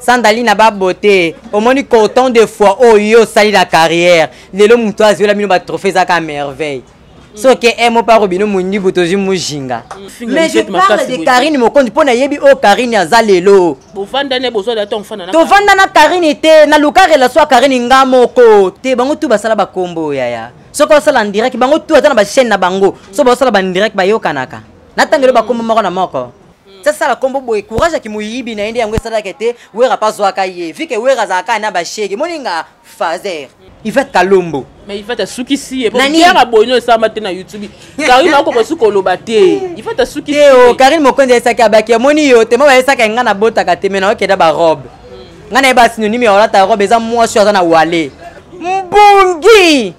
sandali na babote omoni coton de fois oyo osali na carrière lelo moto azwela bino batrophée ezaka merveille soki emo mpe akobino mondibu tozwi mojinga mais je parle de karine mokonzi mpo nayebi oyo oh, karine aza lelo tovanda na karine te naluka relation ya karine nga moko te bango tu basala bakombo oh, yaya soki osala ndirect bango tu ata na bachaine na bango so baosala bandirect bayokanaka natangelo bakombo moko na moko Mm. sasa sala kombo boye courage ya kimoyibi na ye nde yango esalaka ete wera mpe azwaka ye vike wera azalaka ye na bashege moninga fazer ivete kalombo mais ivete asukisi ye yanga boyino esamba te na youtube karine akoka suka oloba te ivete asukisi teo karine mokonzi ayesaki abaki amoni yo te mo bayesaka enga nabotaka te me naokenda barobe mm. ngai nayeba sinonime ya olata robe eza mwasi oyo aza na wale mbungi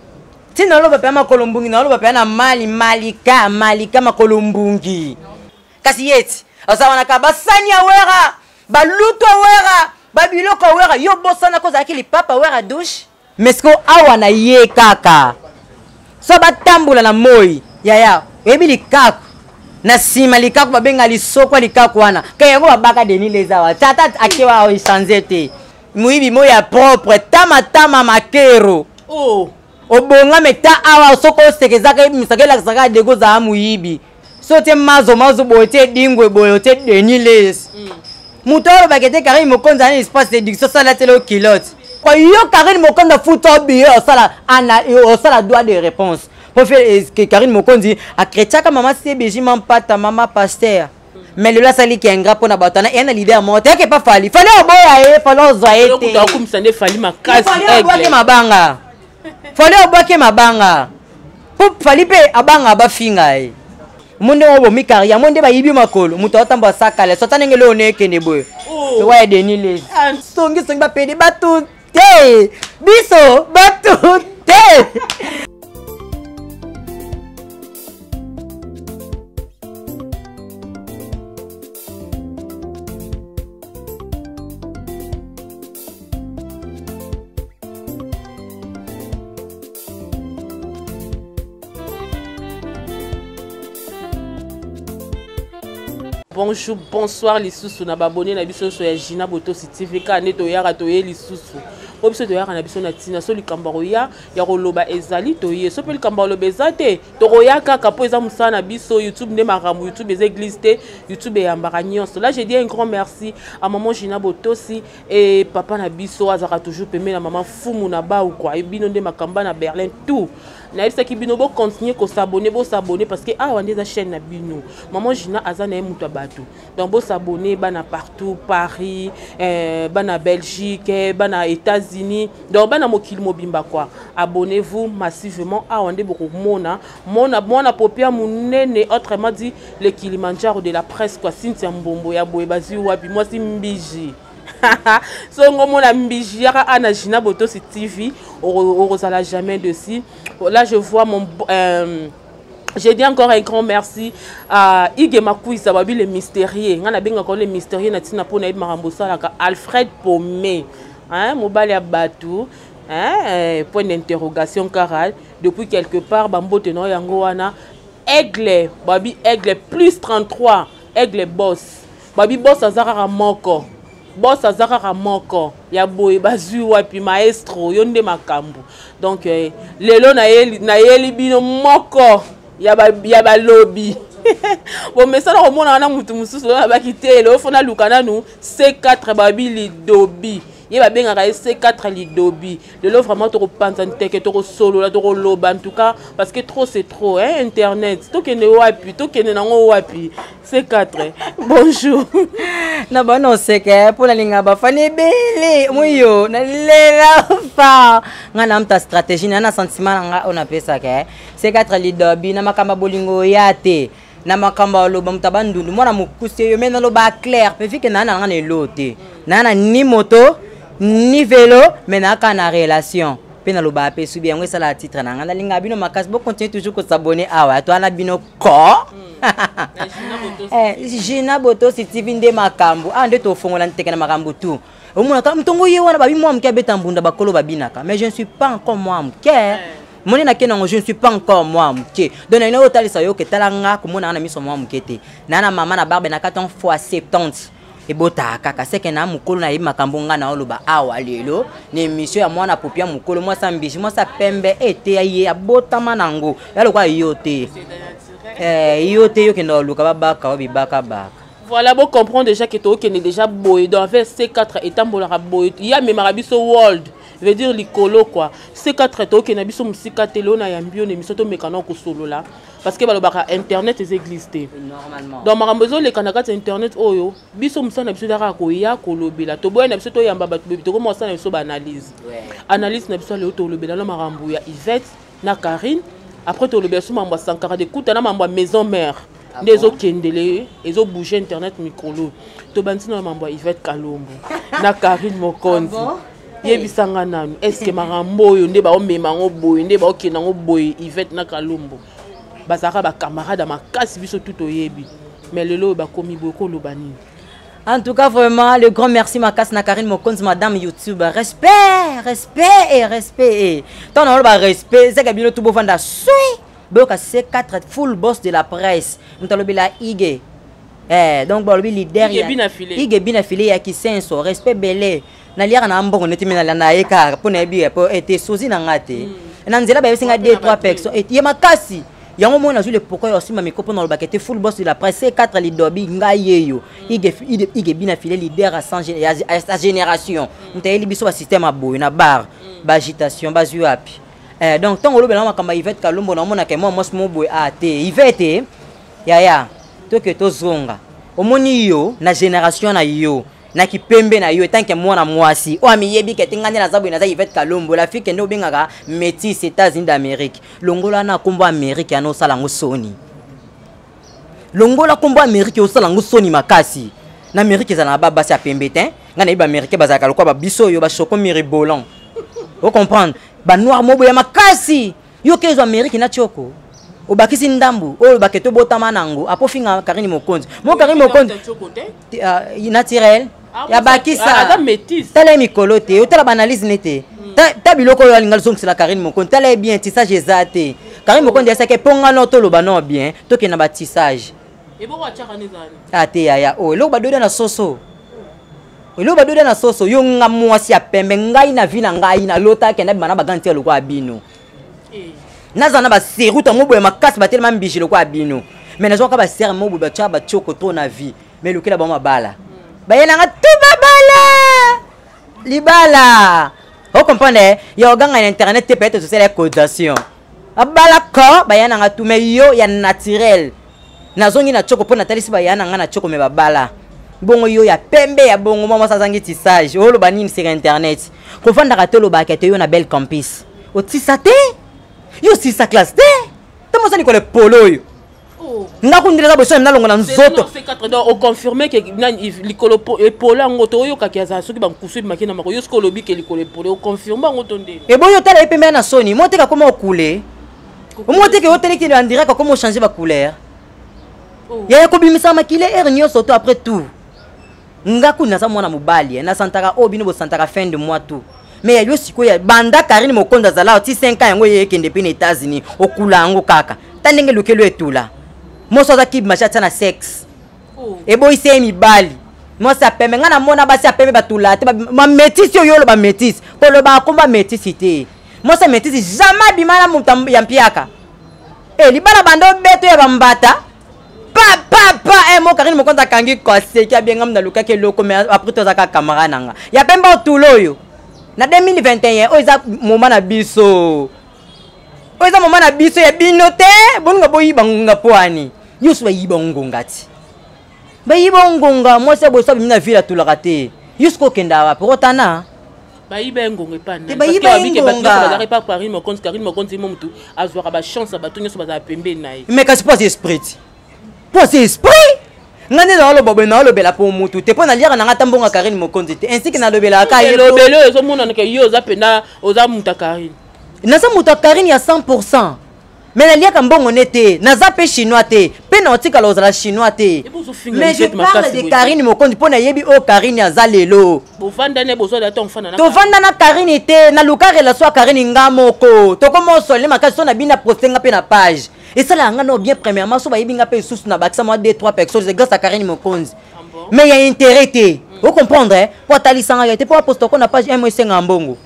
ntina oloba mpe ya makolo mbungi na oloba mpe ya na mali malika malika makolo mbungi kasi yeti aza wana ka basani ya wera balutu ya wera babiloko ya wera yo bosana ko ozalaki lipapa wera douche mesko awa na ye kaka so batambola na moi yaya oyebi likaku na nsima likaku babenga lisokwa likaku wana ke yango babaka denis lezawa tata akewa oechange te moyibi moi ya propre tamatama makero oh. obongame ta awa soki osekezaka ebimisaka elakisaka dego ozala moyibi so te mazo mazo boye te dingwe boye te deni les mm. moto alobaka ete karine mokonzi ana espace d'éducation sala tele okilote yo karine mokonzi afuta obiye osala ana osala droit de réponse mpo fe eh, karine mokonzi akretiaka mama cbg mampata mama paster mais lelo asali ki ingrat mpo na bato wana eya na leader moko te yake pa fali fali oboya ye fali ozwa ye teakumisa nde fali makasi mabanga fali obwake mabanga po fali mpe abanga bafinga ye mo ndenge obomi kari yango nde bayibi makolo moto aotamba asakala sota ndenge leo nekende boye oh. ewa ya deni les ah. songisongi bapede bato te biso bato te bonjour bonsoir lisusu na babone na biso nyonso ya gina botosi tv kaka nde toyaka toye lisusu mpo biso toyaka na biso na ntina so likambo ya koya ya koloba ezali toye so mpe likambo ya koloba eza te tokoya kaka mpo eza mosala na biso youtube nde makambo youtube eza église te youtube eyambaka nyonso là je dis un grand merci à maman gina botosi e papa na biso azalaka toujours pembe na mama fumu na bau kua e bino nde makamba na berlin tout nayebisaki bino bocontinue kosabone bosabone parce que awa nde eza chaîne na bino maman gina aza na ye moto ya bato donc bo s'abonner bana partout paris euh, bana belgique eh, bana états-unis donc bana mokili mobimba quoi abonnez vous massivement awa nde bokomona mona mwana popia monene autrement dit le kilimanjaro de la presse quoi cynthia mbombo ya boye bazwi wapi mwasi mbiji so ngo mona mbiji yaka ana gina botosi tv okozala jamais dessus là je vois mon euh, je dis encore un grand merci à ige makuisa babi le mystérieux ngai nabengaka yo le mystérieux na ntina mpo nayebi makambo osalaka alfred pome mobali ya bato eh, point d'interrogation kara depuis quelque part bambote na yo yango wana aigle babi aigle plus 33 aigle boss Babi boss aza kaka moko. Boss aza kaka moko. Ya boye bazui wapi maestro yo nde makambu. Donc eh, lelo na yeli na yeli bino moko ya ba ya balobi. bomesana komona wana motu mosusu oyo abaki te lelo fo naluka nanu c4 babi lidobi ye babengaka ye c4 lidobi lelo vraiment tokopanza nteke tokosolola tokoloba en tout cas parce que trop c'est trop hein, internet tokende wapi tokende nango wapi c'est 4 bonjour na bana oseke mpo nalinga bafani ebele moi yo nalela fa ngai namta stratégie na na sentiment na ngai oyo napesaka eh. c'est 4 lidobi na makambo ya bolingo oya te na makambo ya loba moto aba ndundu mwana mokuse yo me naloba claire mpe vike naa na ngai na elo te naa na ni moto ni velo me naaka na relation mpe nalobaka mpe esubi yango esalaka titre na ngai nalingaka bino makasi bocontinue toujours kosabone awa toa na bino ko jina botosi tv nde makambo awa nde tofongola nteke na makambo tu omonaka ntongo ye wana babi mwa moke abeta mbunda bakolo babinaka mais je ne suis pas encore mwa moke eh. moni nake nango je ne suis pas encore mwa moke donc naina oyo otalisa yo ke tala nga komonaka na miso mwa moke te naa na mama na barbe na 4 ans fois 70 ebotaka kaka seke na mokolo nayebi makambo ngai naoloba awa lelo na emission ya mwana popia mokolo mwasi ya mbisi mwasi ya pembe eteya ye abotama na yango ya lokola yo te eh, yo te yo kenda oluka babaka o bibaka baka voilà bo comprendre déjà ke tokende déjà boye dans vers c4 etambolaka boye ye amemaka biso world veut dire likolo kua c4 tokende biso mosika te leo na yambi yo na emission tomekana kosolola parce que balobaka internet eza église te donc makambo ezoleka na kati ya internet oyo biso mosala na biso eza kaka koya kolobela toboya na biso toyamba bato boyebi tokoma kosala na biso baanalyse analyse na biso ya lelo tolobela na makambo ya ivette na carine après tolobela so mambo ya sankara de kuta na mambo ya maison mère ah nde ezokendele ezobouge internet mikolo tobandisi na mambo ya ivette kalombo na carine mokonzi ah yebisa nga nanu estce makambo oyo nde baomema yango boye nde baokende yango boye ivete na kalombo bazalaka bacamarade ya makasi biso tu toyebi mais lelo oyo bakomi boye koloba nini En tout cas, vraiment, le grand merci Makas na Karine Mokonzi, madame YouTube. Respect, respect et respect. Tant on a respect, c'est que bien tout beau vanda soui. Boka C4 full boss de la presse. Nous t'allons la IG. Eh, donc bon, le leader. IG bien affilé. IG bien affilé à qui senso, respect belé. naliaka na mbongo neti me nalanda ye kaka mpo nayebi ye mpo ete sozi na nga te mm. na nzela bayebisi nga de trois personnes ete ye makasi yango moi nazwi le pourquoi ya osimba miko mpo nalobaka ete full boss de la presse c4 lidobi ngai yeyo mm. igebina file leader ya sa génération mm. moto ayeli biso basystème ya boye na bar baagitation bazwi wapi eh, donc ntango olobelanga makambo ya ivete kalombo naomonaka mwa mwasi mo boye a ah, te ivete yaya toke tozonga omoni yo na génération na yo na kipembe na yo etanke mwana mwasi oyo amiyebi kete ngai nde naza boye naza ivete kalombo la fille kende obengaka métis états-unis d'amérique longola na nkombo amérique yana osala yango soni longola nkombo amérique osala yango soni makasi na amérique ezala na babasi ya pembe te ngai nayebi baaméricain bazalaka lokola babiso oyo bashoko miribolan ocomprendre banoir moboya makasi yo ke ezwa ameriki na tioko obakisi ndambu oyo olobaka ete obotama nango apo ofinga karine mokonzi mo karine mokonzi ah, naturel ah, abakisa tala ye mikolo te otala baanalyse ne te hmm. ta biloko oyo alinga lizongisela karine mokonzi tala ye bien tisage eza te karine mokonzi asaki eponga no toloba no bien tokende na batisage ate ah, yaya oyo oh, eloko badoda na soso eloko badoda na soso yo nga mwasi ya pembe ngai na vi na ngai nalota akenda bima na baganti ya lokola bino eh. naza na baserute yango boye makasi batelema mbiji lokola bino mai nazwaka basere mo boye batya batioko to na vie mai elukela bango mabala hmm. baye nanga tu babala libala ocomprendre ya oganga na internet te peut-être tosala ya causation abala ka baya na nga tu me yo ya naturel nazongi na choko mpo natalisi baya na nga na choko me babala bongo yo ya pembe ya bongo mwa mwasi azangi tisage oloba nini sika internet kofandaka te olobaka te yo na belle campus otisa te yo osisa classe te ntango ozani kole polo oyo Oh. ndako ndele eza boso na nalongo na nzoto oconfirme ke likolo epole yango toyokaki azala soki bankusu ebimaki na mako yo soki olobi ke likolo epole oconfirme yango to nde eboyi otala ye pembe na soni mo teke akoma okule omo teke oteleki na direct akoma ochange bacouleur oh. yaya kobimisa makile heure nyonso to après tout nga kuni naza mwana mobali eh, nasantaka oyo oh, bino bosantaka fin de mois tout me ya yo sikoyo banda karine mokonzi azalaka ti 5 ans yango ye ekende mpe na états-unis okula yango kaka ta ndenge lokelo etula moso aza kibi mashi atia na sexe oh. eboyisi ye mibali mwasi ya pembe ngai namona basi ya pembe batula te bametisi oyo oloba metisi koloba akomba metisi te mwasi ya metisi jamais abima na moto ya mpiaka e libala banda obeto ya bambata papa eh, mo karine mokonzi akangi koseki abiengami nalukaki eloko mais après tozaka camarade na nga ya pembe otula oyo na 2021 oyo eza moma na biso oyo eza moma na biso ya bino te boninga boyiba ngonga mpo ani nyonso bayiba ngonga ti bayiba ngonga mwasi ya boso abimi na ville atulaka te yo soki okenda wapi okotana bayiba engonga epa nani bayiba engonga bazalaka epa karine mokonzi karine mokonzi mo motu azwaka bachance ya bato nyonso bazala pembeni na ye mais kasi mpo aza esprit ti mpo aza esprit ngai nde naoloba boye naolobela mpo motu te mpo naliaka na ngai ata mbongo ya karine mokonzi te ainsi ke nalobelaka ka ye elobeli oyo ezomonanaka yo oza mpenza oza moto ya karine naza moto ya karine ya 100 me naliaka mbongo ne te naza mpe chinois te mpe na otikala ozala chinois te mais je parle de karine mokonzi mpo nayebi oyo karine aza lelo tovanda na karine te naluka relation ya karine nga moko tokoma osolele makasi so na bino na poste nga mpe na page esalaka nga nao bien premièrement so bayebi nga mpe lisusu na bakisa mwa 2 3 personnes grâce ya karine mokonzi ah mais ya intérêt te mm. ocomprendre eh? mpo atalisanga yo te mpo aposta ko na page m esenga mbongo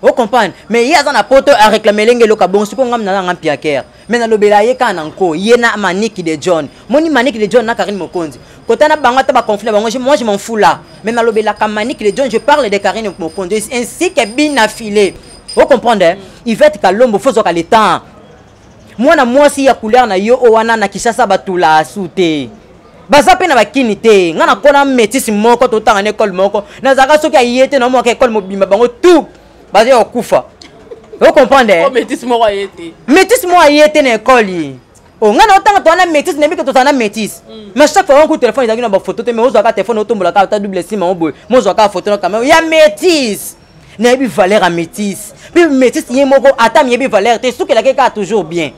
o comprendre mais ye aza na poto areklame elenge eloko abongo sikoyo ngai mnana ngai mpiakere me nalobela ye kaka na nko ye na maniki de john moni maniki de john na karine mokonzi kota na bango ata baconflit na bango moi je m'en fou là mais nalobelaka maniki de john je parle de karine mokonzi ainsi que bina filet o comprendre eh? ivete kalombo fozwaka le temps mwana mwasi ya couleur na yo o wana na kishasa batula asu te baza mpe na bakini te ngai nakona metisi moko totanga na ekole moko nazalaka soki aye te naomaka ekole mobimba bango tout baza ya kokufa ocomprendre eh? oh, metisi moko aye te na ekole ye o oh, ngai naotanga toa na métise nayebi ke tozala na métise mm. mais chaque fois wanku telefone ezalaki na bafoto te mais ozwaka telefone otombolaka ata double sima o boye mozwaka foto na kamera ya métise nayebi valeur ya métise mpe métise ye moko ata miyebi valeur te esukelaki kaka toujours bien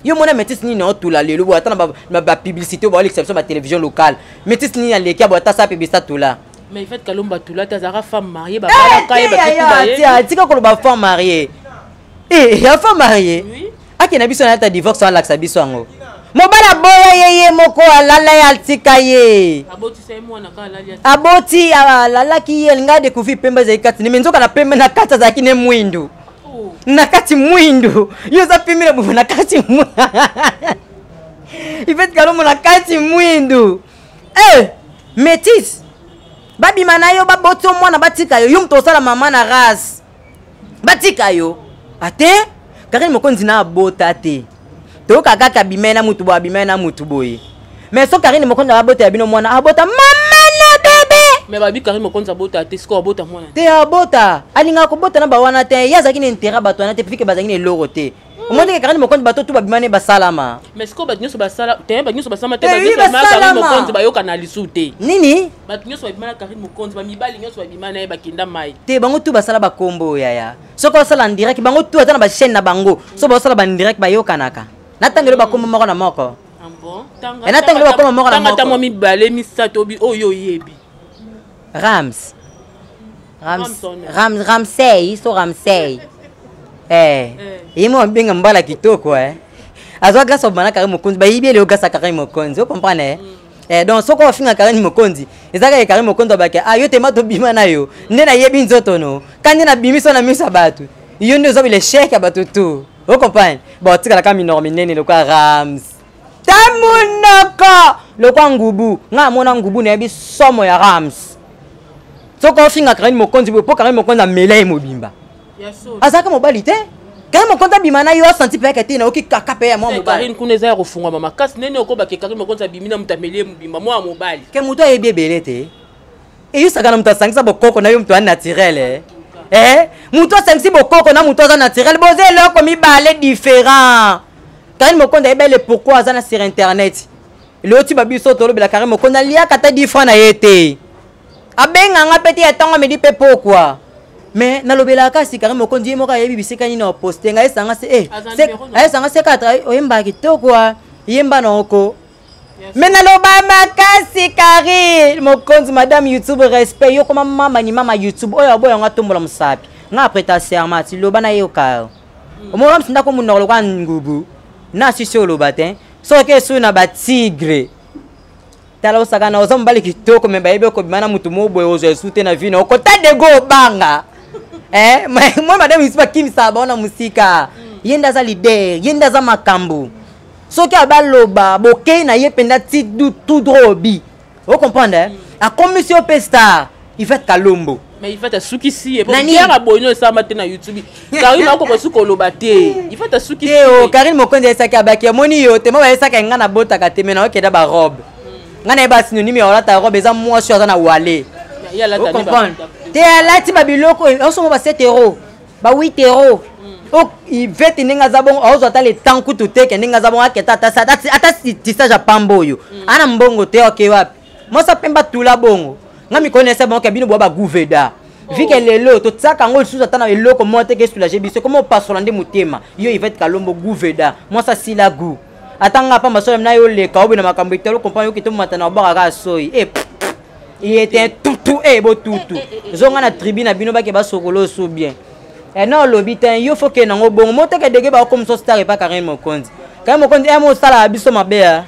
yo mona métis nini na otula lelo boye ata na bapublicité baolekisa biso batélévision locale métis nini aleki ya boye ata sa pebisa tula mais fait kalomba tula te azalaka femme mariée babalaka ye batika koloba femme mariée e ya femme mariée ake na biso nayata divorce alakisa biso yango mobali aboya ye ye moko alala ye atika ye aboti alalaki ye alinga decouvrir pembe ezali kati neme nzoka na pembe na kati azalaki ne mwindu oh. na kati mwindu yo oza pembe na bobo na kati ifeti kalomo na kati mwindu e eh, métise babima na yo baboti yo mwana batika yo yo moto osala mama na race batika yo ate karine mokonzi na abota te toyoka kaka abimai na mutu boye abimai na mutu boye mais so karine mokonzi na babota ya bino mwana abota mama na bebe me babi karine mokonzi abota te sikoyo abota mwana te abota alingaka kobota na bawana te ye azalaki na interet bato wana te pifike bazalaki na eloko te omoni ndenge karine mokonzi bato tu babima ne basalama mais sikoyo bato nyonso basala te bato nyonso basalama te karine mokonzi bayokana lisu te nini bato nyonso babima na karine mokonzi bamibali nyonso babima na ye bakenda mai te bango tu basala bakombo oyo yaya soki basala ndirect bango tu ata na bachaine na bango so basala bandirect bayokanaka na ntango elo bakombo moko na moko ah na ntango elo bakoma moko na moko mibale misato oyo oyebi rams Rams, Rams, Ramsey, so Ramsey. Eh, ye mwa benga mbala kitoko eh. Azwa glace obana kare mokonzi, ba yibi leo glace kare mokonzi, o comprendre eh. Mm. Eh, donc soki ofinga kare mokonzi ezaka ye kare mokonzi abaki ah yo te ma tobima na yo nde nayebi nzoto no kandi nabimi so na miso ya bato yo nde ozobi lechec ya bato tu o comprendre baotikalaka minoko minene lokola rams ta monoko lokwa ngubu nga amona ngubu nayebi somo ya rams soki ofinga karine mokonzi boye mpo karine mokonzi amela ye mobimba azalaka mobali te kari mokonzi abima na yo asanti mpe akete nayoki kaka mpe ya mwa eh, mobalikarin kuna eza ya kofungwama makasi nene okobake kari mokonzi abimi na moto ameli ye mobimba mwa mobali ke moto ayebi ebele te eyusaka na moto asangisa bokoko na yo moto ya naturel eh? eh? moto asangisi bokoko na moto aza naturel boza eloko mibale différent kani mokonda ayebele pourkui aza na sur internet loti babiso tolobela kari mokonda aliaka ata difra na ye te abenga nga mpe te ya ntango amedi mpe pokua mais nalobelaka kasi kari mokonzi ye moko ayebi bisika nini aposte nga esanga se eh, ayesanga se 4 oyembaka kitoko yemba na oko me naloba makasi kari mokonzi madame youtube respect yo koma mama ni mama youtube oyo aboya yango atombola mosapi nga apreta serment ti loba na ye okaya mm. omona msinda ko munoko lokola ngubu na sisi oloba te soki esu na batigre tala osakana oza mobali kitoko me bayebi okobima na motu moboye ozwa esu te na vi na okota dego obanga eh, moi madame yusufu akimisaka bango na mosika mm. ye nde aza lider ye nde aza makambo soki abaloba bokei na ye mpenza ti tout droit obi o comprendre eh? akomisi yo mpe star ivete kalombo mais ifate asukisi ye yanga boyi no esama te na youtube karine akoka suki oloba te ifate asukisi o oh, karine mokonzi ayesaki abaki amoni yo te mo bayesaka enga nabotaka te me na okenda barobe hmm. ngai nayeba sinonime ya olata robe eza mwasi oyo aza na wale te alati babiloko oyo osomo basetero ba witero o ivete ndenge aza bongo aozwa ata le temps kutu te ke ndenge aza bongo aketa ata tisage apamba oyo mm. ana mbongo te oke wapi mosa pemba tula bongo nga mikonese bongo ke bino bwa baguveda oh. vike lelo totiaka yango lisusu ata na eloko moko te ke soulage biso koma opasola nde motema yo ivete kalombo guveda mwasa sila gu ata nga pamba sola na yo oleka obe na makambo etalo kompa yo kito mata na obaka kaka soyi e eh, il était tutu e eh, botutu eh, eh, zonga na tribu na bino bake basokola osu bien ena olobi te yo fo kende yango bongo moteke dege baokomisa star epa karine mokonzi karine mokonzi emo osalaka biso mabe ya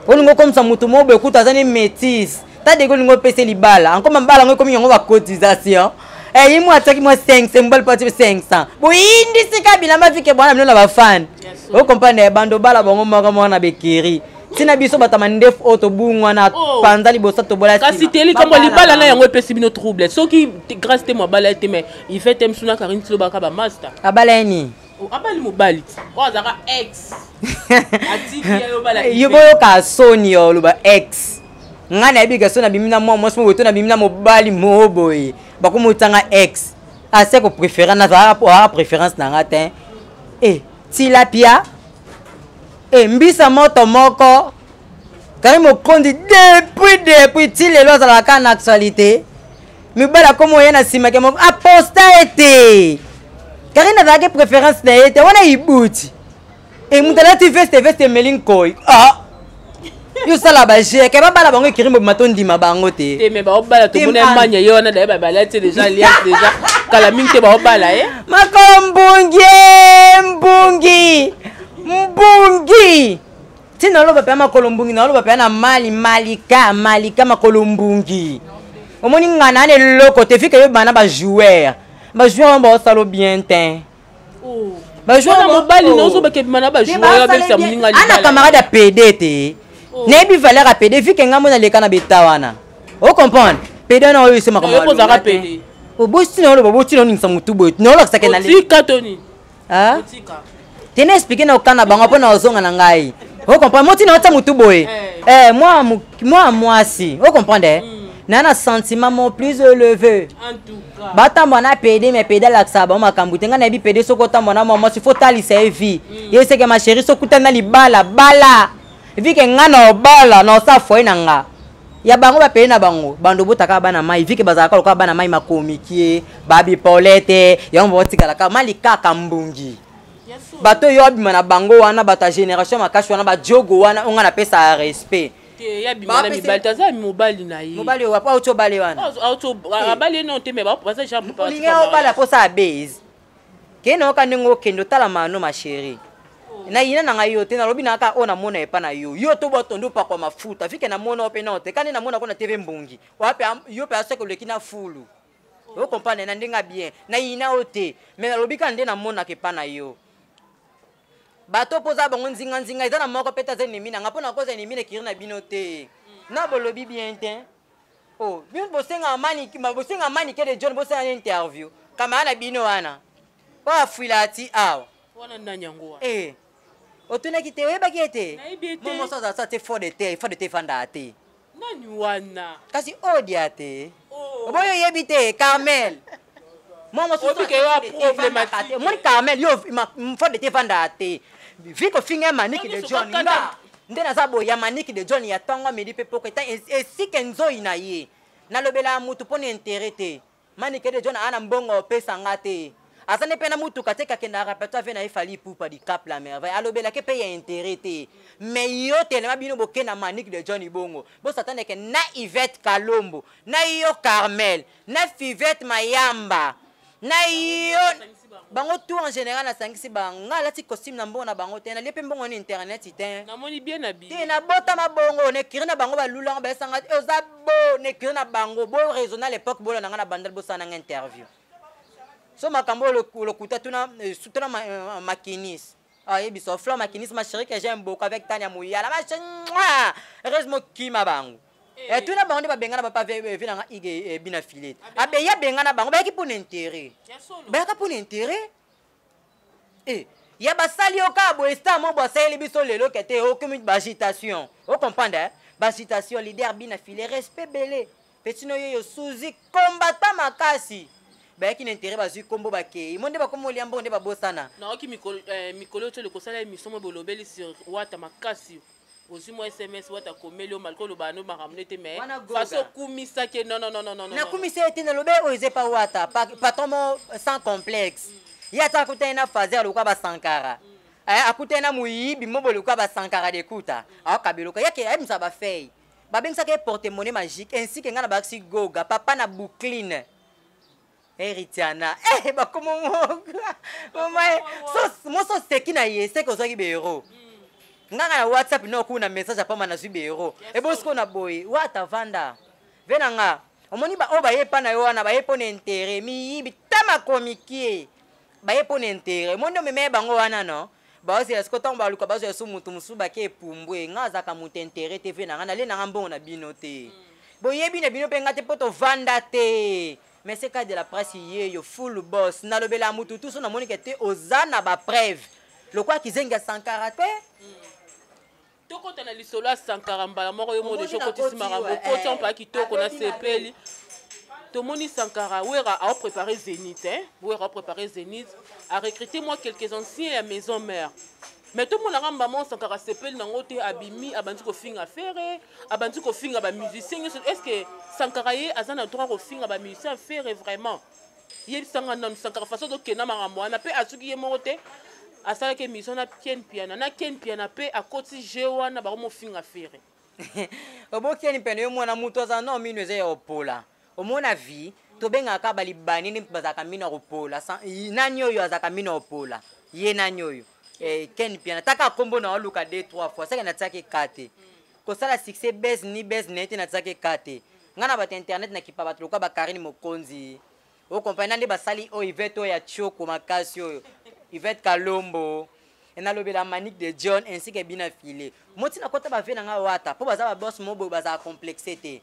olingi okomisa motu moko boye kutu aza ne métise ta dege olingi opese libala ankoma mbala yango ekomi yango bacotisation eyi mwa atiaki mwa 500 mobali po ati 500 boyindisi kabila mafike bwana bino na bafani okomprendre bando bala bango moko mwana bekeri ntina biso bato ya mandefu oyo tobungwana oh. panza liboso tobola kasi te likambo ya libala na yango epesi bino trouble soki grace te moabala ye te mai ife te msuna karine tilobaka bamasta abala ye nini oh, abali mobali ti oyo azalaka ex yo boyoka soni yo oloba ex ngai nayebi gaso nabimi na mwa mwasi moboye to nabimi na mobali moo boye bakomotanga ex asi ah, koprefere nazalaka préférence na ngai te e eh, tilapia e mbisa moto moko kari mokonzi depuis depuis ti lelo azalaka kaka na actualité mibali akomi oye na nsima ke moko aposta ye te karine azalaki préférence na ye te wana ibuti e moto alati veste veste emeli nkoi ah. yo sala ba jeu ke babala bango ekiri mobima tondima bango te te me baobala tomona emanya ye wana daye babala te deja lias deja kala mingi te baobala ye eh? makolo mbungi mbungi mbungi ti naloba mpe ya makolo mbungi naloba mpe ya na mali malika malika makolo mbungi omoni ngana na eloko te fika yo bana bajoueur bajoueur wana baosalo bien te bajouana mobali naozobakebima na bajouabebisa moninga ana camarade ya pede te oh. nayebi valeur ya pede vike ngai mona leka na beta wana o comprendre pede wana oyo esemaka oboti na oloba oboti na oningisa motu boye naolakisaka natika toni te na explike na okana bango mpo na ozonga na ngai o comprendre motina otia motu boye eh. Eh, mwa mwasi o comprendre eh? mm. naa na sentiment mon plus élevé batambwa na pede me pede alakisaka bango makambo te ngai nayebi pede soki otambwa na mwa mwasi fo talisa ye vie mm. ye seke masheri soki utani na libala bala vike ngai na obala na osa foye na nga ya bango bapede na bango bando botaka bana mai vike bazalaka lokola bana mai makomikie babipole te yango baotikalaka mali kaka mbungi bato oyo abima na bango wana bato ya génération makasi wana badiogo wana onga napesa respect te ya bima na mibali te aza mobali na ye mobali oyo wapi auti obale wana abali ye nao te me baza jaolingi obala mposa ya base kei nayoka ndenge okende otala mano ma chérie oh. na yina na ngai yo te nalobi na kaka oyo namona epa na yo yo to botondi opakwa mafuta vike namona yo mpe nao te kani namona ko na tv mbongi wapi yo mpe aseke oleki na fulu oh. okomprane na ndenge ya bien na yina yo te me nalobi kaka nde namonaka epa na yo bato mpo oza bango nzinganzinga eza na moko mpe te aza enemi na nga mpo na koza enemi na ekiri na bino te mm. na bolobi bien te o oh, bino bosenga manike de john bosala na interview kamara na bino wana mpo afuila ati awa wana nani yango wana eh, otunaki te oyebaki ete momoso azalasa te fo de te fo de te efandaka te nani wana kasi odia te oh. oboyo oyebi te carmel omoni carmel yo fode te evandaa te vi kofinga maniki de john nga nde naza boye ya maniki de john ya ntongo midi mpe poko eta esika enzoi na ye nalobelaka motu mpo na intere te Manike de John ana mbongo opesa nga te. Aza nde mpe na mutuka te kakenda repertoire vie na ye Fally Ipupa di Cap la merveille alobelake mpe ya intérêt te mais yo telema bino boke na Manick de John Ibongo bosataneke na Yvette Kalombo na yo Carmel na Fivette Mayamba na yo bango tout en général nasangisi bango ngai alati costume na mbongo na bango te nalie mpe mbongo na internet te namoni bien na bi te nabotama bongo nekiri na bango balulanga bayesanga eh, oza bo nekiri na bango bo raisonne à l'époque bola na ngai na bandal bosala nanga interview so makambo lokuta tuna eh, tuna eh, makinis ayebisa ah, ofla makinis ma chérie que j'aime beaucoup avec tania moyala ma chérie heureusement kima bango Eh, eh, tuna bango nde babengana bapa vi nanga ige eh, bina filet ah, abeyi abengana bango bayaki mpona intérêt bayaka mpona intérêt e ya basali yo kaka boye star mo boasaleli biso lelo kete okomi bagitation ocomprendre bagitation leader bina filet respect bele petino yeyo suzi kombata makasi bayaki na intérêt bazwi nkombo bakei mo nde bakomi olia mbongo nde babosana naoki mikolo oyo tolekosala emission mo bolobeli sur wata makasi ozwi mwa sms wata akomeli yo malgré olobaka no makambo nde te mais façon okumisaki ye nonnnnn nakumisi ye te nalobe oyo eza epa wata patron mo sans complexe mm. ye ata akutani na fazer lokola basankara mm. eh, akutani na moyibi mobo lokola basankara dekuta mm. aokabeloka yake ayebisa bafei babengisaka ye porte monnaie magique ainsi ke ngai na bakisi goga papa na boucline heritiana eh, bakomo moso oseki na ye seke ozwaki beero nganga na whatsapp no okuu na message apama nazwi beero ebosiko na boye wata vanda ve na nga omoni baoyo baye epa na yo wana baye mpo na intere miyibi ta makomikie baye mpo na intere omoni nde omemeye bango wana no baozela siko ntango baluka bazwa esu motu mosusu bake epumbwe nga azalaka motu intere te ve na nga nalie na nga mbongo na bino te mm. boyebi na bino mpe nga te mpo tovanda te mais c'est cas de la presse yeyo full boss nalobela mutu tuso namoni ke te oza na ba preuve lokola kizengi ya sankara te tokota na lisolo ya sankara mbala moko yo mode tokotisi makambo okoti mpaya kitoko nasepeli tomoni sankara wera aoprépare zénith hein? wera aoprépare zénith arecrute mwa quelques anciens ya maison mère mais tomonaka mbama osankaka sepeli nango te abimi abandi kofinga fere abandi kofinga ba musicien nyonso est ce que sankara ye aza na droit kofinga ba musicien fere vraiment yebisanga nanu sankara faso tokenda makambo wana mpe azuki ye moko te asalaki émission na ken piana na ken piana mpe akoti je wana bakomofinga fere obokeni pene yo mwana moto aza no mino eza ya opola omona vie tobengaka kaka balibani nde bazalaka mino ya kopola nani oyo azalaka mino ya kopola ye nani oyo eh, ken piana taka nkombo na oluka de trois fois seke natiaki ka te kosala succès base ni base na ye te natiaki ka te ngai na bato ya internet nakipa bato lokola bakarine mokonzi okomprani na nde basali oyo ivete oyo ya tioko makasi oyo ivete kalombo nalobela manique de john ainsi ke bina file moti nakota bave na ngai wata mpo baza babosse moboye bazala complexe te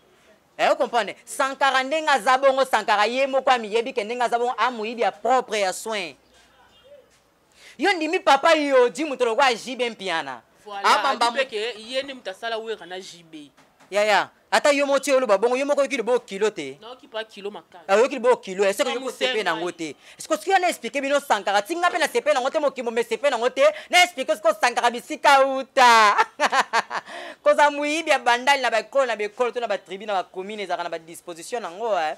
Eh, comprendre sankara ndenge aza bongo sankara ye moko amiyebi ke ndenge aza bongo amoyibi ya propre ya soin yo ndimi papa yoji moto lokola jb mpiana abambamke ye nde moto asala wera na jb yaya ata yo moko tie oloba bongo yo moko oyoki lobo kilo te oyoki lobo kilo esekoyoki osepe nango te siko soki wana explike bino sankara ti nga mpe nasepe nango te mokimbo mesepe nango te na explike siko sankara bisika uta kozala moyibi ya bandali na baekolo na baekolo to na batribu na bacommune ezalaka na badisposition nango eh.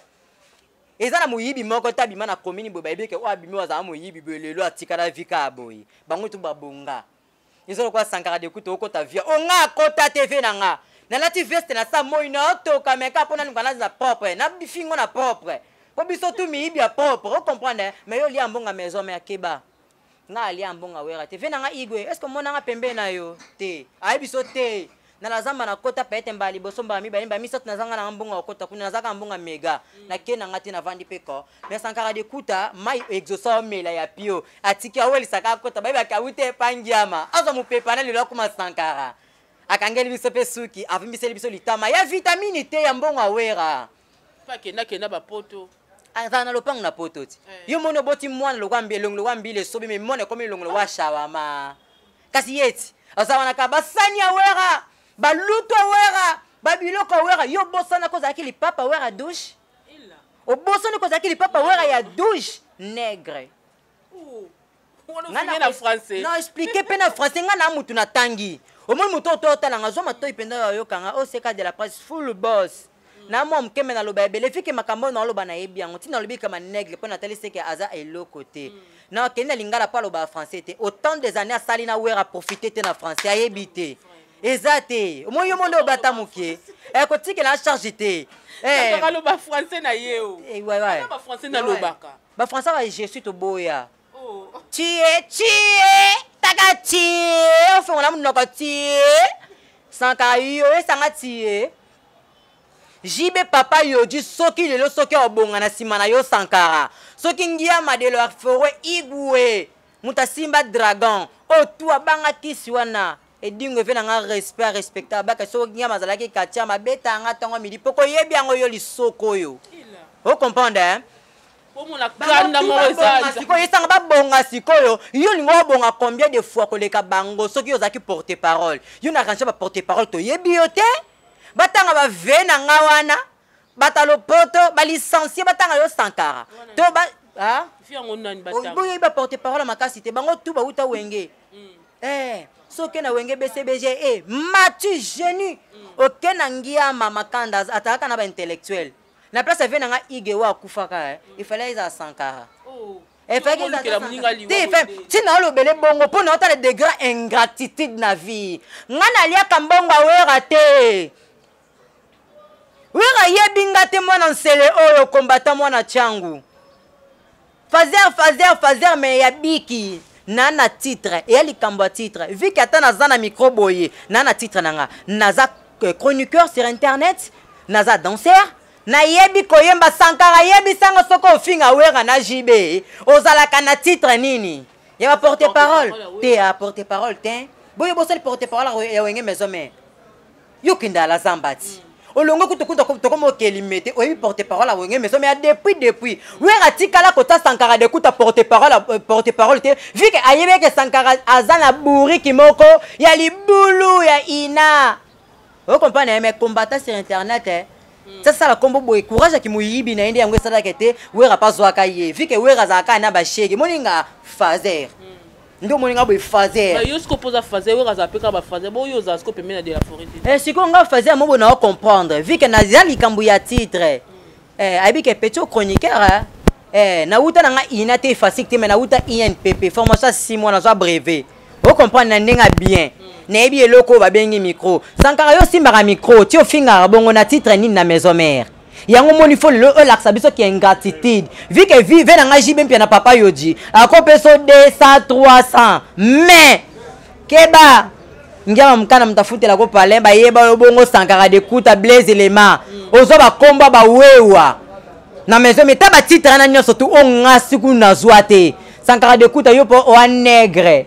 eza na moyibi moko te abima na commune boye bayebi eke oyo abimi oyo azala moyibi boye lelo atikala vika ya boye bango tu babonga eza lokola sankara de kutu okota via o nga akota te vie na nga nalati veste na sa moi na otoka meka mpo nanuka nazala propre na bifingo na propre mpo biso tu miyibi ya propre ocomprendre mais yo lia mbonga maison mère keba nga alia mbonga wera te vie na nga igwe est ce que omonanga pembe na yo te ayebi so te na lazamba nakota pete mbala liboso mbala mibale mbala misato nazanga nanga mbongo ya kota kuna nazaka mbongo ya mega mm. nake nanga te navandi mpe ko me sankara dekuta mai exosa omela ya pio atiki awelisaka akota bayebaki awuti epangiama azwa mopepa na lelo akoma sankara akangeli biso mpe suki avimbiseli biso litama ya vitamini te ya mbongo awera pa kenda kenda ba poto azala ah, na lopango na poto ti eh. yo moni oboti mwana lokwa mbi elongo lokwa mbila esobi me mwana ekomi elongo lokwa shawama kasi ye ti aza wana kaka basani ya wera balutu ya wera babiloko ya wera yo obosana ko ozalaki lipapa wera douche obosani ko ozalaki lipapa wera ya douche negre nga na français na expliquer pe na français nga na mutu na tangi omoni moto oyo totala nga zwa matoi mpenza oyo ayoka nga oseka de la presse full boss na mwa moke me naloba ebele fike makambo oyo naoloba nayebi yango ntina alobi kama naigle mpo natali seke aza eloko te mm. na kendi na lingala mpo aloba français te autant des années asali na wera profite te na français ayebi te eza te omoi yo monde obata moke eh, kotikela charge te eh. aloba français na ye o eh, français nalobaka Ba français ba je suis toboya. Oh. Tie tie taka tie ofongo na munoko tie. Sanka yo esanga tie. JB papa Yoji soki lelo soki obonga na sima na yo Sankara. Soki ngia madelo afore igwe. Mutasimba dragon. Otu abanga kisi wana. edingo efe na nga respect arespecta abaka soki nyama azalaki katia mabeta yanga ntango midi mpo koyebi yango yo lisoko oyo ocomprendre hein? sikoyo esanga babonga sikoyo yo olingi obonga combien de fois koleka bango soki yo ozalaki porte parole yo na range baporte parole toyebi yo te batanga bave na nga wana bato ya lopoto balicencie batanga yo sankara to ba ah? boyebi baporte parole makasi te bango tu bauta wenge mm. eh, soki na wenge bcbg e eh, matu genu mm. oke na ngiama makanda atalaka na baintellectuel na place avie na nga ige oyo akufaka eh. mm. ifale ezala sankara oh. ntina olobele bongo mpo na otala degre ingratitude na vie ngai naliaka mbongo awera te wera ayebi nga te mwana nsele oyo kombata mwana changu fazer fazer fazer me ya biki na na titre eya likambo ya titre viki ata naza na micro boye na na titre na nga naza euh, chroniqueur sur internet naza danser nayebi koyemba sankara yebisanga soki ofinga wera na jb ozalaka na titre nini ya baporte parole te ya porte parole te boye bosali porte parole ya wenge maison mare yo kende ala zambati olongo kutu kutu tokoma okelime te oyebi porte parole ya wenge maison mais depuis depuis wera atikala kota sankara de kuta porte parole euh, porte parole te vu ke ayebi eke sankara aza na bouriki moko ya libulu ya ina okomprane ye mais combattant sur internet eh. sasala nkombo boye courage aki moyibi na ye nde yango esalaka ete wera mpe azwaka ye vike wera azalaka na bashege moninga fazer nde omoni nga boye fazer yo siko mpoza fazer oyo azala mpe kaka bafazer boyo ozala siko pembe na de la foret te eh, sikoyo nga fazer mobo na ocomprendre vu ke naza likambo ya titre eh, ayebi ke petit chroniqueur eh, nawuta na nga ina te efasik te mai nawuta inpp formation ya six mois nazwa brevet ocomprendre na ndenge ya bien nayebi eloko oyo babengi micro sankara yo osimbaka micro ti ofingaka bongo na titre nini na maison mare yango omoni fo lelo olakisa biso ki ingratitude vi ke vi ve na ngai jibe mpia na papa yoji akopeso 200 300 mais keba ngiama mokana moto afutela ko palin bayeba yo bongo sankara dekuta blaise elema ozwa bakombo ya bawewa na maison meta batitre na nyonso tu ongasi kuna nazwa te sankara dekuta yo mpo oa negre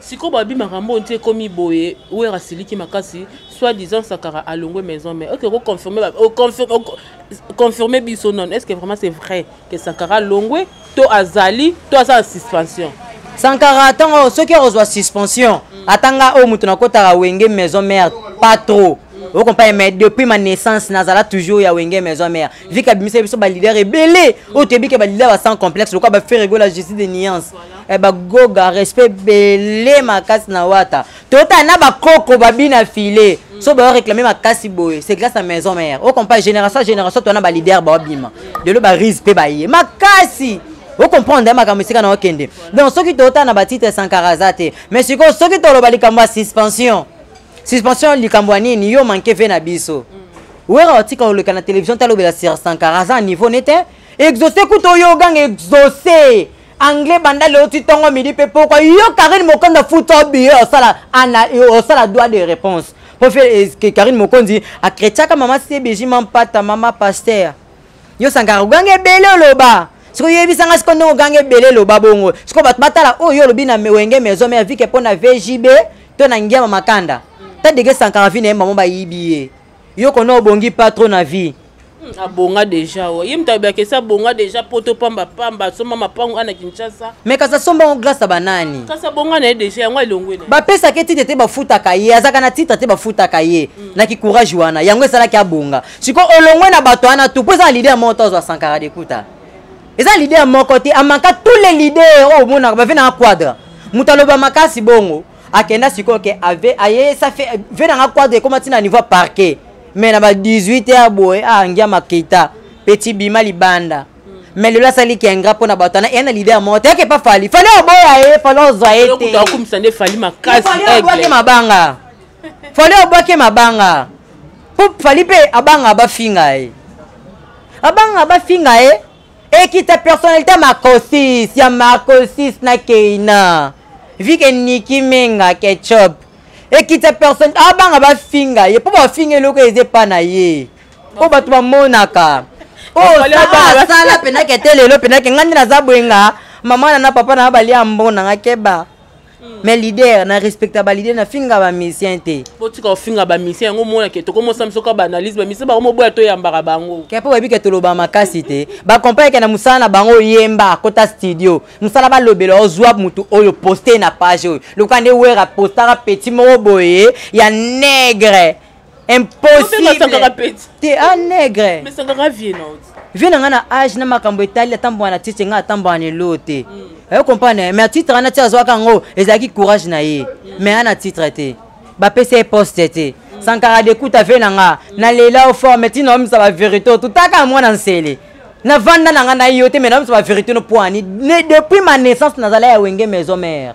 sikoyo babi makambo oyo nti ekomi boye wera asiliki makasi soit disant sakara alongwe maison mais oke oconfirme biso non est ce que vraiment c'est vrai que sakara alongwe to azali to aza na suspension sankara ntango soki akozwa suspension mm. ata nga oyo moto nakotaka wenge maison mare pas trop mm. okomprendre mais depuis ma naissance nazala toujours ya wenge maison mare mm. vika abimisa biso balider ebele oyo toyebi ke balider ba sans complexe lokola baferegola justice de nuance eh, bagoga respect bele makasi na wata totala na bakoko babi na file mm. so bayo réclame makasi boye c'est grâce na maison mère ocompa génération génération twana baleader baobima lelo barise mpe baye makasi ocomprendre makambo esika na okende donc soki totala na batitre sankaraza te mais sikoyo soki toloba likambo ya suspension suspension likambo ya nini yo manke ve na biso mm. wera otika oleka na télévision talobela sur sankaraza niveau nete exauce kuta oyo oganga exauce anglais banda leo ti tongo midi mpe pokwa yo karine mokonzi afuta obiye osala ana osala droit de réponse mpo fe eh, karine mokonzi akretiaka mama cbg mampata mama paster yo sankara oganga ebele oloba sikoyo yebisanga sikoyo ndenge oganga ebele loba bongo sikoyo bato batala oyo oh, yo olobi na wenge maison mare vike mpo na vjb to na ngiama makanda ta dege sankara vi na ye mamo bayibi ye yo kona obongi pas trop na vie hmm, abonga deja o ye moto abiyaka esi abonga deja poto pamba pamba asomba mapango ana kinshasa me kasi asomba yango glace ya banani kasi abonga na ye deja yango elongwe na bapesaka ye titre te bafutaka ye azalaka na titre te bafutaka ye hmm. na kikourage wana yango esalaki abonga sikoyo olongwe na bato wana tu mpo eza na lider moko to azwa sankara dekuta eza lider moko te amaka tous les lider oyo oh, omonaka bavenaka quadre moto aloba makasi bongo akenda sikoyo ke ave aye sa fe ve nanga quadre ekoma ntina niveau parquet mais na ba 18 ya boye aangia ah, makita petit bima libanda mais lelo asali kengra mpo na bato ana eya na lider moko te yake pa fali fali oboya ye fali ozwa ye teakumisa nde fali makasiobwake mabanga fali obwake mabanga mpo fali mpe abanga bafinga ye abanga bafinga ye ekita personnalité marcosis ya marcosis na keina vike niki menga ketchup ekita personne abanga bafinga ye mpo bafinga eloko eza epa na ye mpo bato bamonaka osala mpenake te lelo mpenake ngai nde naza bwenga mama na na papa na balia mbona nga keba Mm. mais leader na respecta baleader na finga bamisien te botika kofinga bamisien yango omona ke tokomosala biso kaka baanalyse bamisien bango moboya toyambaka bango ke mpo bayebi ke toloba makasi te bacompagne ke na mosala na bango oyemba kota studio mosala balobela ozwa motu oyo poste na page oyo lokola nde wera postaka petit moko boye ya negre impossible te a ah, negre vie na ngai na age na makambo etali atambwa na titre ngai atambwa na elo te hmm. oyo comprendre mais titre wana ti azwaka yango ezalaki courage na ye hmm. mais ana titre te bapesa ye poste te hmm. sankara dekuta vie na ngai na lela o forme ti naomisa baverité oyo tutaka mwana nsele navanda na ngai na yo te mais naomisa baverité no poani depuis ma naissance nazala ya wenge maison mare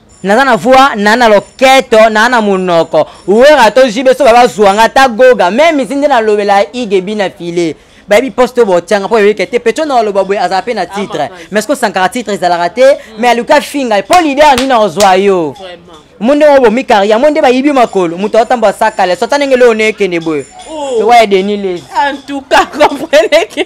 naza na voix naa na loketo naa na monoko wera to jibe so babazwa nga ta goga meme si nde nalobela igebi na filet bayebi poste oyo botianga mpo yoyeke te petro na oloba boye azala mpe na ah, titre mais ko sankara titre ezalaka te mm. mais aluki afinga ye mpo lider nini ozwa yo mo ndenge obomi karia mo nde bayibi makolo moto aotamba asakale sota ndenge leo nekende boye oh. owaye denis les en tout cas compreneke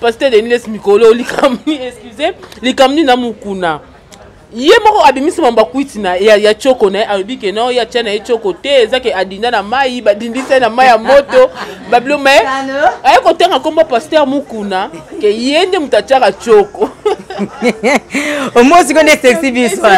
pasteur deniles mikolo likamni excuse likamni na mukuna ye moko abimisi mamba kwiti na ya, ya choko na ye alobi ke no ye atya na ye choko te eza ke adinda na mai badindisa ye na mai ya moto babilo me aye kotanga nkombo paster mukuna ke ye nde moto atyaka choko omo siko nde sexi biso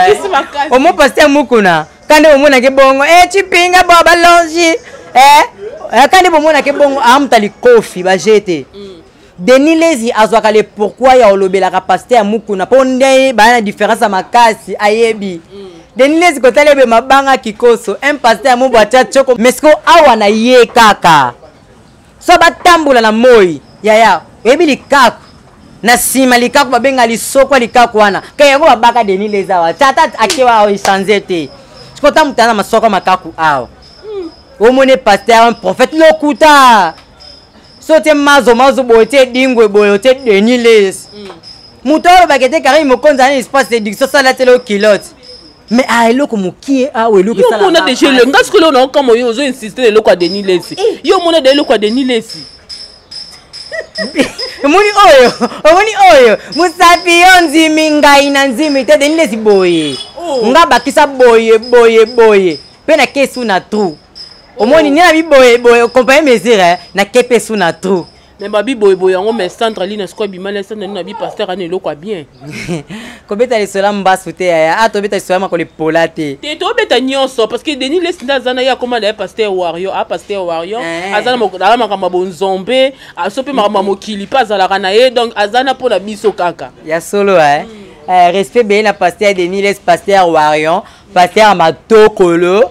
omo paster mukuna kande bomonake bongo e eh, cipinga bo balongi e eh, eh, kande bomonake bongo amuta likofi baje te mm. denis lezi azwaka le pourkui ya olobelaka paster ya mukuna mpo nde baya na différence ya makasi ayebi mm. denis lezi kotala ebe mabanga kikoso un paster ya mobo atya tioko mesko awa na ye kaka so batambola na moi yaya oyebi likaku na nsima likaku babenga lisokwa likaku wana ke yango babaka deni leza awa tata akewa awa echange te sikoyo ta motana masoko makaku awa omoni paster un prophète lokuta so te mazo mazo boye te dingwe boye te deni les moto alobaka ete karimi mokonzi ana espace de diction salatela okilote mais a ah, eloko mokie awa ah, eloko esalamona deja eloko nga sikoyo eloko naokama yo ozo insiste na eloko ya denis lesi eh. yo omona de eloko ya denis lesi omoni oyo omoni oyo mosapi yo nzimi ngai na nzimi te denis lesi boye oh. nga bakisa boye boye boye mpe na kesu na trou omoni oh. nde na biboye boye compagnie mesure eh, na kepe su na trou me babi boyeboye yango me sandra lina sikoyo abima na sandra lina abi paster ana eloko ya bien kobeta lisolo ya mbasu te yaya a ah, tobeta lisolo ya makolo epola te te tobeta nyonso parce que denis lesi nde aza na ye akoma na ye paster wario a ah, paster wario eh. aza na makambo ya bonzombe aso ah, mpe makambo ya mokili mpe azalaka na ye donc aza na mpo na biso kaka ya solo eh? mm. eh, respect beye na paster denis les paster warion paster matokolo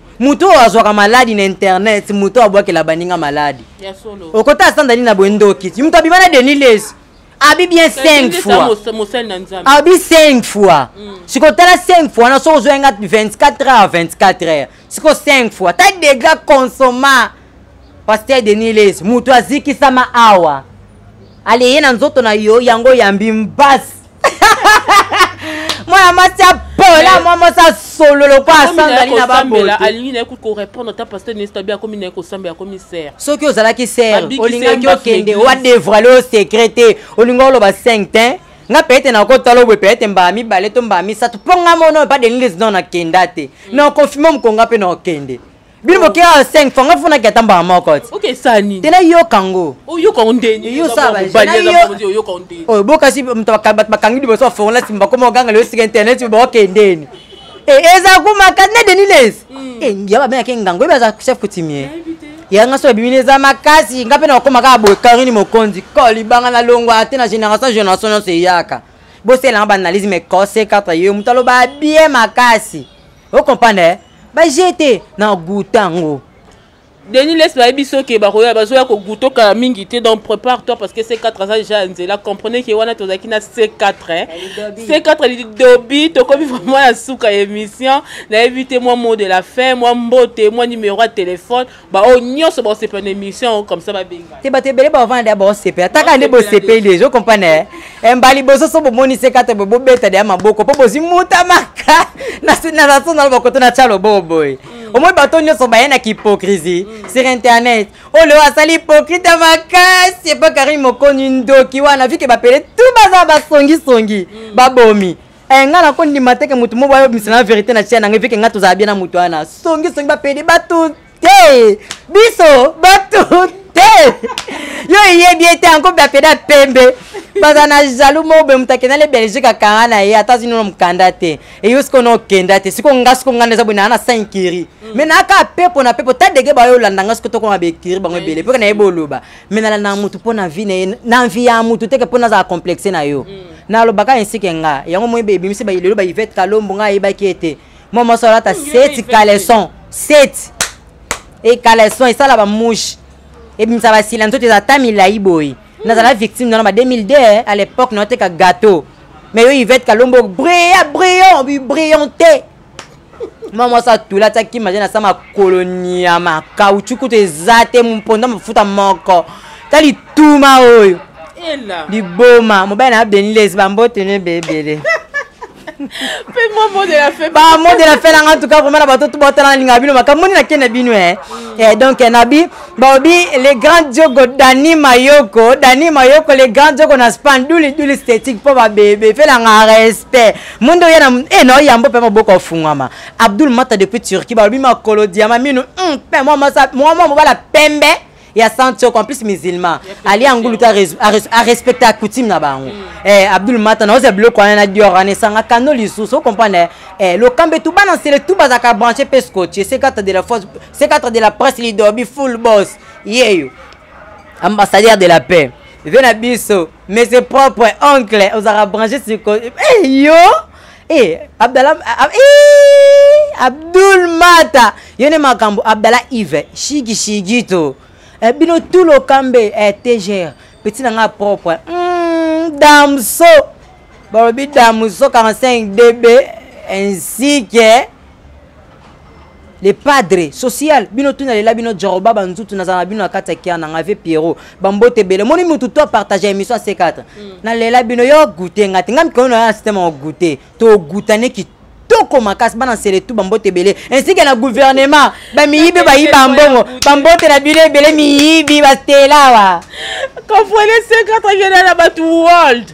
moto oyo azwaka maladi na internet moto oyo abwakela baninga maladi okota asanda nini na boye ndoki moto abima na denis lesi abi bien 5 fois abi 5 fois mm. sikoyo tala 5 fois na soki ozwa yanga 24 heures 24 heures sikoyo 5 fois ta degra consomma paster denis lesi moto azikisama awa ale ye na nzoto na yo yango yambi mbasi mwana mwasi apola mwa mwasi asolo lokola asangani na babote alingi na ye kutu korepondre ata paster nesta bi akomi na ye kosambela akomi ser soki ozalaki ser olingaki okende wadevrale o secret te olingi oloba 5 te nga peut-être nakotala obwe peut-être mbala mibale to mbala misato mpo nga mono epa denilesdon nakenda te mm. na confirme mokonga mpe na okende bino bokeya ya 5 fo nga fonaki ata mbala moko ti te nayoka ngo oyo bokasi bato bakangi liboso bafongola nsima bakoma oganga leyo sika internet baokendeni eh, eza kumaka ne deni les hmm. eh, ya babengaki ngango ebi aza chef coutumier yanga so ebimi eza makasi nga mpe nakokoma kaka boye karini mokonzi ko libanga na longwa te na génération génération nyonso eyaka boselanga baanalyse mais kose katra yo moto aloba bien makasi ocomprendre ba jeu te na guta ngo denis les bayebi so ke bakoya bazoya koguta okala mingi te donc prépare toi parce que c4 aza déjà ya nzela comprenez ke wana tozalaki na c4 eh. c4 lidobi tokomi vraiment ya suka ya émission nayebi te mwa mot de la fin mwa mbote mwa numéro ya téléphone baoyo nyonso baosepela na émission yango comme ça babenga te bato ebele bavanda ya baosepela taka nde bosepeli deja okomprane eh, mbali bososo bomonisi kata boye bobeta deya maboko mpo bozwi muta maka naso nalo bakoto na tya lobo boye mm. omoi bato nyonso baye na kihypocrisie mm. sur internet oyo oh, leo asali hypocrite ya makasi epa karine mokoni ndoki wana vike bapele tu baza basongisongi mm. babomi Eh, nga nako ndima te ke moto moko ayobimisa na verité na tia na ngai veke nga tozala bien na moto wana songisongi bapede bato te biso bato te yo eyebi ete yango bapede ya pembe baza na jaloux moko boye moto akenda le belgique akanga na ye ata azinono mokanda te eyo sikoyo na okenda te sikoyo nga sikoyo nga naza boye naa na saint kiri mai mm. naaka pepo na pepo ta dege bayo olanda nga sikoyo tokoma bekiri bango ebele mpo nayebi oloba me nalandaka motu mpo na vi na ye na vi ya motu teke mpo nazala complexe na yo mm. nalobaka esike nga yango moi ebimisi lelo ba ivete kalombo ngai ayebaki ete mwa mwasi alata seti caleson seti e caleson esala bamouche ebimisa basila nzoto eza ata milai boye nazala victime nana ba 2002 eh, à l'époque naoteka gâteau mais yo ivete kalombo bria brion bibrillante mwa mwasi atula tia kima je nasa makolo nyama kauchu kutu eza te mponda mafuta moko ta lituma oyo liboma mobali na benilesi bambote ne bebele mpe mwa mot de la fin ba mot de la fin nanga tuka vraimen na bato tobotala na linga bino makambo moni nake na bino e donc eh, nabi baobi le grand jogo dani mayoko dani mayoko le grand jogo na span duli duli stetique mpo babebe mpe nanga respect monde oya na e na oyambo mpe maboko ofungwama abdul mata depuis turquie balobi makolo diama minu hmm, mpe mwa mobala pembe ya santioko en plus musulman ali angulu te arespecte acoutume na bango hmm. eh, abdul mata na oza biloko wana na dior wana esanga kano lisusu ocomprendre eh, lokambe tu bana nsele tu bazalaka branche mpe scotche c4 de la force c4 de la presse lidobi full boss yeyo ambassadeur de la paix ve na biso mais c'est propre oncle ozalaka branche siko hey, eh, yo hey, eh, abdala hey, ah, ah, eh, abdul mata yo nde makambo abdala ive shigishigi to eh, bino tout lokambe eh, tgr petit na ngai propre mm, damso balobi damso 45 db ainsi que le padre social bino tuna lela bino jaroba banzutu nazala na bino na kati ya kiana ngai ve pierrot bambote ebele omoni motu to apartage ya émission ya c4 mm. na lela bino yo goute ngai te ngai mikolo na yo na systeme ya goute togutane kitoko kitoko makasi bana nsele tu bambote ebele ainsi ke na gouvernement bamiyibi bayiba mbongo bambote na bino ebele miyibi bastelawa comprenez ce kata viena na bato world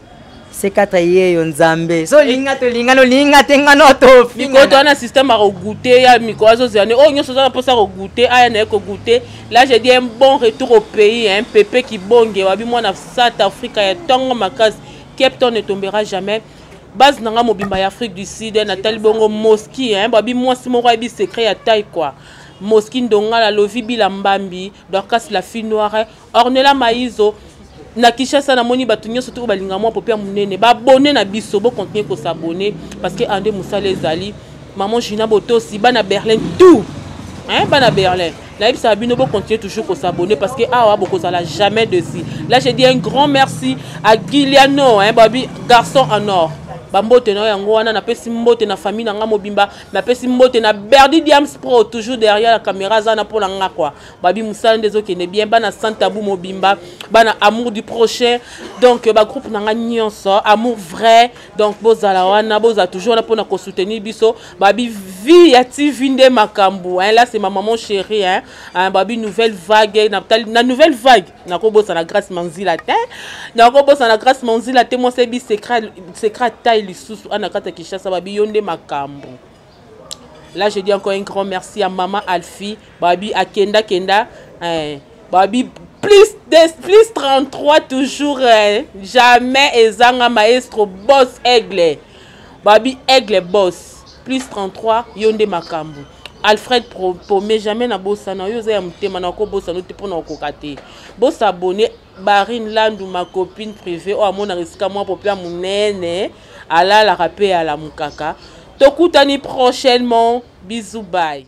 sekatra yeyo nzambe so olinga tolinga nolinga te nga no tofikoto wana systeme akogoute ya mikolo azozela ne oyo oh, nyonso oza na mposa kogoute aya na ye kogoute là je dis un bon retour au pays un pepe kibonge wabi mwana south africa ya ntongo makasi cape town ne tombera jamais base na ngai mobimba ya afrique du sud natali bongo moski babi mwasi moko ayebi secret ya tai kua moski ndongala lovi bila mbambi dorcas la fille noire Ornella Mayizo na Kinshasa namoni bato nyonso te oyo balinga mwa popia monene babone na biso bokontinue kosabone parce que ande mosala ezali maman Gina Botosi bana Berlin tout hein, bana Berlin nayebisaka bino bocontinue toujours kosabone parce que awa bokozala jamais dessus là je dis un grand merci à Giliano hein, babi garçon en or bambote na yo yango wana napesi mbote na famille na ngai mobimba napesi mbote na berdi diams pro toujours derrière la caméra aza na mpo na ngai kua babi mosala nde ezokende bien bana sans tabou mobimba bana amour du prochain donc euh, bagroupe na ngai nyonso amour vrai donc bozala wana bozala toujours wana mpona kosoutenir biso babi vie ya tv nde makambo hein, là c'est ma maman chérie hein, hein, babi nouvelle vague na, na nouvelle vague nakobosana grâce manzila te nakobosana grâce manzila te mwasi ebi secret taille lisusu ana kati ya kinshasa babi yo nde makambo Là, je dis encore un grand merci à Maman Alfie. Babi, à Kenda Kenda. Hein, Babi, plus, des, plus 33 toujours. Hein, jamais Ezanga Maestro Boss Aigle. Babi Aigle Boss. Plus 33, Yonde Makambu. alfred pome jamais na bosana yo oza ya motema na okobosana ote mpo na okoka te bosabone Barine Landu ma copine privée oyo amonaka esika mwa popla monene alalaka mpe alamukaka tokutani prochainement bisous bye